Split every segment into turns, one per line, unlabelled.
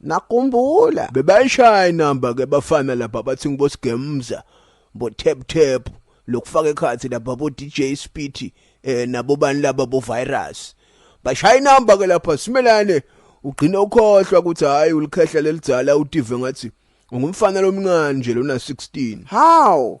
Nakumbula. Bebayishaya
inamba ke bafana lapha bathi ngibosigemza bo tap tap lokufaka ekhathi lapha bo DJ Speedy eh nabo bani laba bo virus. Bashaya inamba ke lapha simelane ugcine ukhohlwa ukuthi hayi ulikhehla lelidzala utive ngathi ungumfana lomncane nje lona 16. How?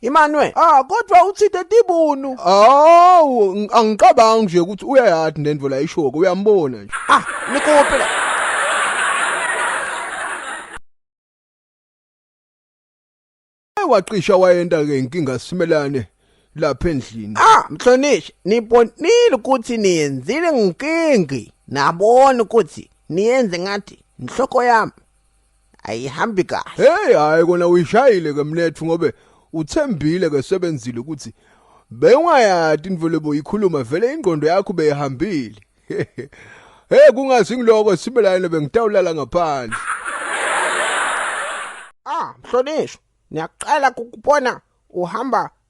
Imanwe,
ah kodwa uthide tibunu. Awu angicabangi
nje ukuthi uyayathi nendvo la ishoko uyambona nje. Ah, nikope la. Wacisha wayenda ke inkinga simelane lapha endlini. Ah, mhlonishwa,
nibonile ukuthi niyenzile nginkingi. Nabona ukuthi niyenze ngathi inhloko yami. ayihambi kahle hey hayi kona
uyishayile ke mnethu ngobe uthembile ke sebenzile ukuthi bewungayati indvelo boyikhuluma vele ingqondo yakho beyihambile hey kungazi ngiloko sibe layena bengitawulala ngaphandle
ah mhlonishwa niyaqala ukubona uhamba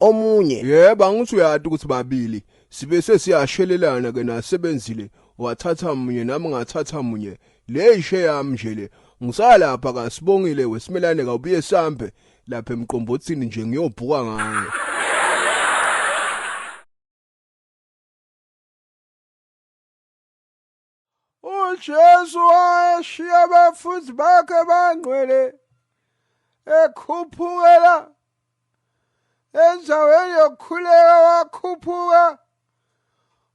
omunye. Yebo, angithi uyati
ukuthi babili sibe sesiyashelelana ke nasebenzile wathatha munye nami ngathatha munye le ishe yami nje le ngisalapha kasibongile wesimelane kawubuye sambe lapha emqombothini nje ngiyobhuka ngayo
uJesu washiya abafundi bakhe bangcwele ekhuphukela endaweni yokukhuleka wakhuphuka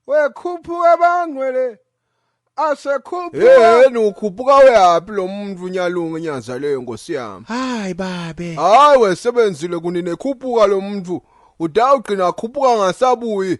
wekhuphuka bangcwele asekhuphukaeni ukhuphuka weyaphi
lo muntu unyalunga inyaza leyo nkosi yami hayi babe
hayi wesebenzile
kunini ekhuphuka lo muntu uda ugcina akhuphuka ngasabuyi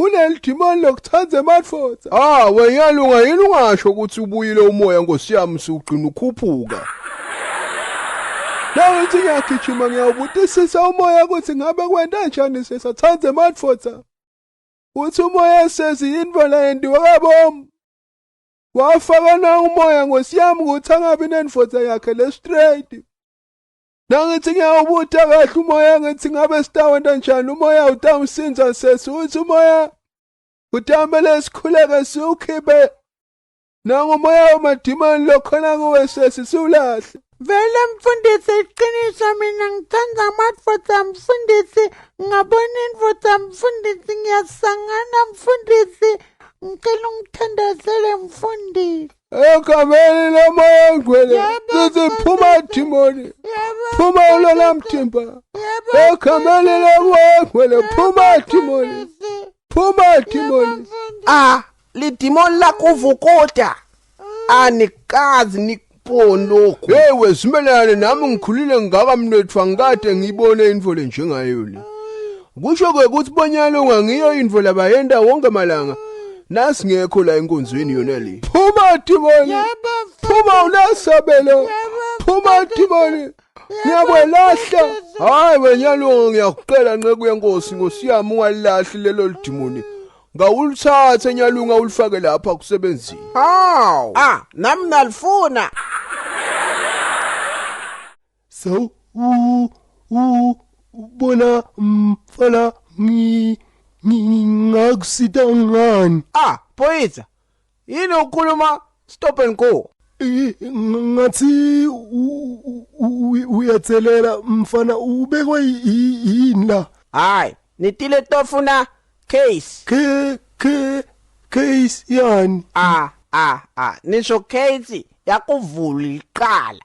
Uneli dimoni lokuthanda emadvodza. Ah, wenyalunga yini ungasho ukuthi ubuyile umoya nkosi yami siwugcina ukhuphuka. Nawe uthi ngiyagijima ngiyawubutisisa umoya ukuthi ngabe kwenta njani sesathanda emadvodza. Uthi umoya sezi yini bona yendiwe kabomu. Wafaka na umoya nkosi yami ukuthi angabi nenvodza yakhe le straight. Nangithi ngiyawubutha kahle umoya ngithi ngabe sitawenta njani umoya utawusinza sesi uthi umoya utambele sikhuleke siwukhiphe nangumoya wamadimoni lokhona kuwe sesi siwulahle
vele mfundisi iqiniso mina ngithanda amadoda mfundisi ngabona indoda mfundisi ngiyasangana mfundisi ngicela ungithandazele mfundisi egameni
lomoya ngcwele sithi phuma dimoni phuma ulona mthimba egameni lomoya ngcwele phuma dimoni phuma dimoni ah
lidimoni lakuvukuda anikazi nik pondoku yewe zimelelane
nami ngikhulile ngaka mnethu angikade ngiyibone into le njengayo le Kusho ke ukuthi bonyalo ngangiyo info labayenda wonke malanga. Nasi ngekho la enkonzweni yona le. Phuma dimoni. Phuma unasabelo. Phuma dimoni. Ngiyakwelahla. Hayi wenyalo ngiyakucela nceku yenkosi Nkosi yami ungalilahli lelo lidimoni. Ngawulithathe nyalunga ulifake lapha kusebenzini. Haw. Ah,
nami nalifuna.
So u u bona mfala ngi ngingakusita ngani? Ah, Poitsa.
Yini ukhuluma stop and go? ngathi
uyathelela mfana ubekwe yini la hayi nitile
tofuna case ke ke
case yani a a a
nisho case yakuvula iqala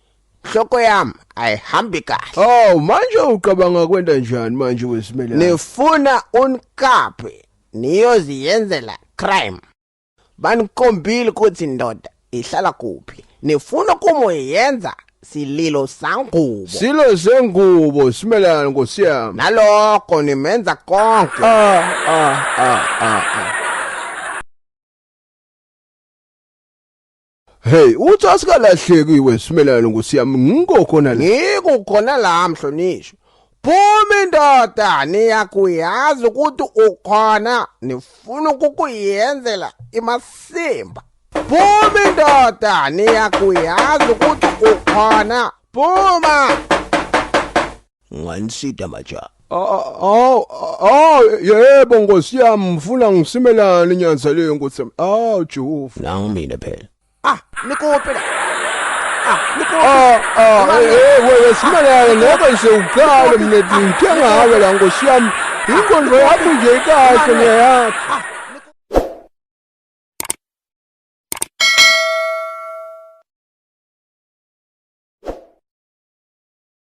Hloko yami ayihambi kahle. Haw manje ucabanga
kwenda njani manje wesimela? Nifuna
unkaphi niyoziyenzela crime. Banikombile ukuthi ndoda ihlala kuphi. Nifuna kumoyenza sililo sangubo. Silo sengubo
simelana nkosi yami. Nalokho
nimenza konke. Ah ah ah ah. ah.
Hey, uthi asikalahleki iwe simelane ngosiyami ngikho khona la. Ngikho khona la
mhlonishwa. Phuma indoda niyakuyazi ukuthi ukhona nifuna ukukuyenzela imasimba. Phuma indoda niyakuyazi ukuthi ukhona phuma. Ngiwansida maja. Aw,
aw, yebo Nkosi yami, ngifuna ngisimelane nyanza le Nkosi yami. Aw, Jehova. Nangu mina phela.
Ah, nikope la. Ah, nikope.
Ah, ah, eh, wewe simelane ngoba nje uqale mina ngithenga hawe la Nkosi yami. Inkonzo yakho nje ikahle ngiyayapha.